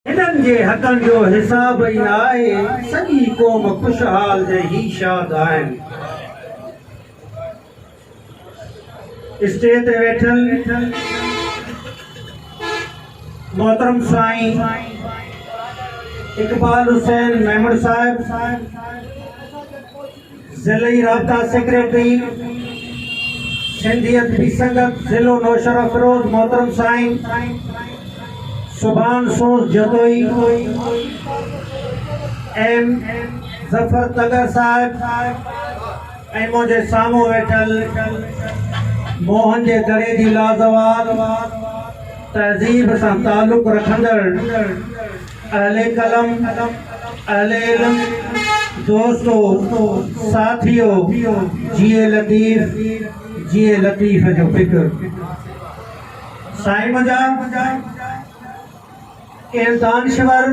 هنن جي حقن جو حساب ئي نه آهي، سڄي قوم خوشحال ۽ هي شاد آهن. اسٽيج تي ويٺل محترم سائين اقبال حسين ميمڻ صاحب، ضلعي رابطا سيڪريٽري سنڌي ادبي سنگت ضلعو نوشهرافروز محترم سائين سبحان سوز جتوئي ايم ظفر تڳر صاحب ۽ منهنجي سامهون ويٺل موهن جي دڙي جي لازوال تهذيب سان تعلق رکندڙ اهل قلم، اهل علم، دوستو، ساٿيو، جيئي لطيف، جيئي لطيف جو فڪر. سائين منهنجا ڪنهن دانشور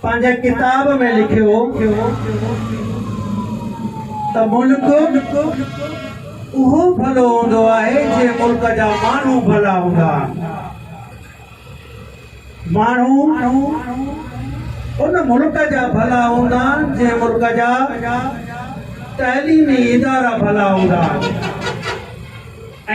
پنهنجي ڪتاب ۾ لکيو ته ملڪ اهو ڀلو هوندو آهي جي ملڪ جا ماڻهو ڀلا هوندا آهن. ماڻهو ان ملڪ جا ڀلا هوندا جنهن ملڪ جا تعليمي ادارا ڀلا هوندا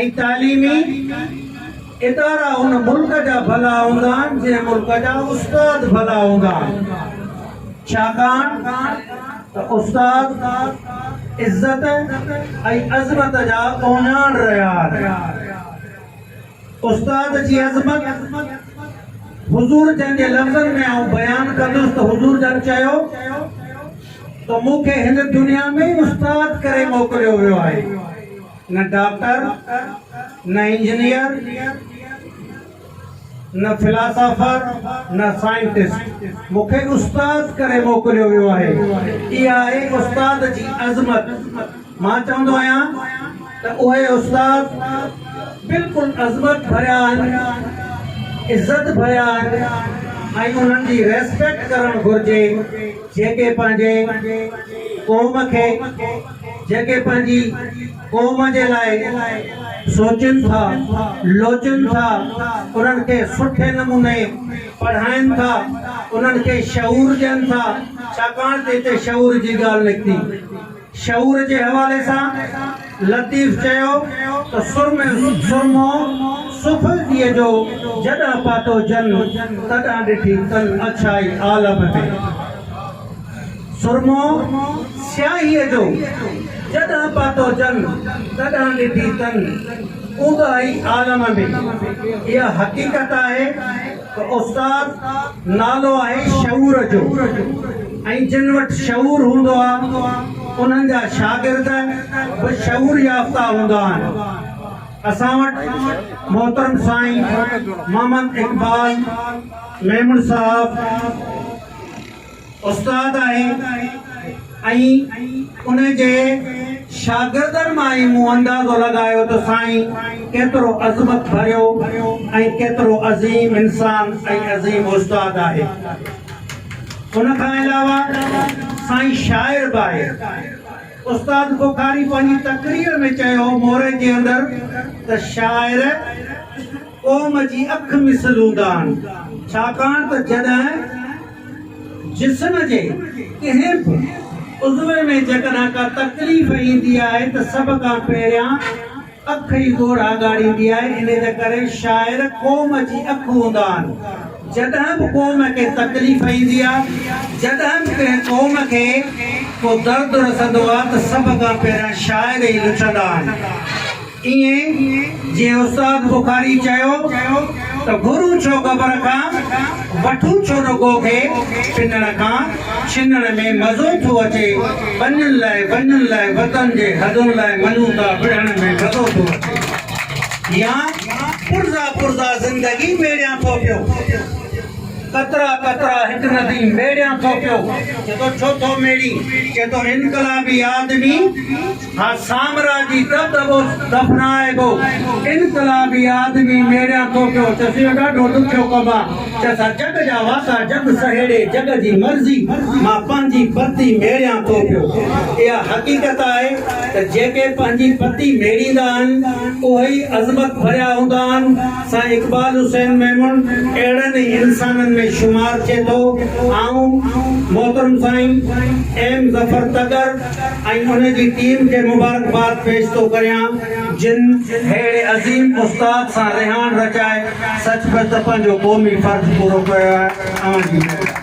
۽ تعليمي ادارا ان ملڪ جا ڀلا هوندا جنهن ملڪ جا استاد ڀلا هوندا ڇاڪاڻ ته استاد عزت ۽ عظمت جا اونياڻ رهيا آهن. استاد جي عظمت حضور جن جي لفظن ۾ آئون بيان ڪندس ته حضور جن چيو ته مون کي هن دنيا ۾ ئي استاد ڪري موڪليو ويو آهي نه ڊاڪٽر نه انجنيئر نه فلاسافر نه سائنٽسٽ مون کي استاد ڪري موڪليو ويو آهي اها آهي استاد جي عظمت مان چوندو آهيان ته اهي استاد بلڪل عظمت ڀريا آهن، عزت ڀريا آهن ۽ انهن جي ريسپيڪٽ ڪرڻ گهرجي جيڪي پنهنجي قوم کي جيڪي پنهنجي قوم جي لاء سوچين ٿا لوچين ٿا انهن کي سٺي نموني پڙهائين ٿا انهن کي شعور ڏين ٿا ڇاڪاڻ ته هتي شعور جي ڳالهه نڪتي. شعور جي حوالي سان لطيف چيو ته سرمي سرمو سڦل ڏيء جو جڏهن پاتو جن تڏهن ڏٺي تن اڇائي عالم ۾، سرمو سياهيء جو جڏهن پاتو جن تڏهن ڏٺي تن اونداهي عالم ۾، اها حقيقت آهي. ته استاد نالو آهي شعور جو ۽ جن وٽ شعور هوندو آ انهن جا شاگرد به شعور يافته هوندا آهن اسان وٽ محترم سائين محمد اقبال ميمڻ صاحب استاد آهي ۽ ان جي شاگردن مان ئي مون اندازو لڳايو ته سائين ڪيترو عظمت ڀريو ۽ ڪيترو عظيم انسان ۽ عظيم استاد آهي. ان کان علاوه سائين شاعر به آهي. استاد بخاري پنهنجي تقرير ۾ چيو موري جي اندر ته شاعر. قوم جي اک مس لودان، ڇاڪاڻ ته جڏهن جسم جي ڪنهن به عضوي ۾ جيڪڏهن ڪا تڪليف ايندي آهي ته سڀ کان پهريان اک ئي ڳوڙها ڳاڙيندي آهي، انهي جي ڪري شاعر قوم جي اک هوندان، جڏهن به قوم کي تڪليف ايندي آهي، جڏهن به ڪنهن قوم کي ڪو درد رسندو آهي ته سڀ کان پهريان شاعر ئي لڇندا آهن. ائين جئين استاد بخاري چيو ته گرو ڇو گبر کان وٺون ڇو رڳو کي پنڻ کان ڇنڻ ۾ مزو ٿو اچي ٻنين لاء ٻنين لاء وطن جي حدن لاء منون ٿا وڙهڻ ۾ مزو ٿو اچي يا پرزا پرزا زندگي ميڙيان ٿو پيو قطرا قطرا هڪ ندي ميڙيان ٿو پيو چئي ٿو ڇو ٿو ميڙين چئي ٿو انقلابي آدمي ها سامراجي ته دٻو دفنائبو انقلابي آدمي ميڙيان ٿو پيو چس اهو ڏاڍو ڏکيو ڪم آ چس ها جڳ جا واسا جڳ سهيڙي جڳ جي مرضي مان پنهنجي پتي ميڙيان ٿو پيو اها حقيقت آهي ته جيڪي پنهنجي پتي ميڙيندا آهن اهي ئي عظمت ڀريا هوندا آهن سائين اقبال حسين ميمڻ اهڙن ئي انسانن ۾ شمار ٿئي ٿو آئون محترم سائين ايم ظفر تڳر ۽ ان جي ٽيم کي مبارڪباد پيش ٿو ڪريان جن اهڙي عظيم استاد سان رهاڻ رچائي سچ پچ ته پنهنجو قومي فرض پورو ڪيو آهي اوهان جي مهرباني.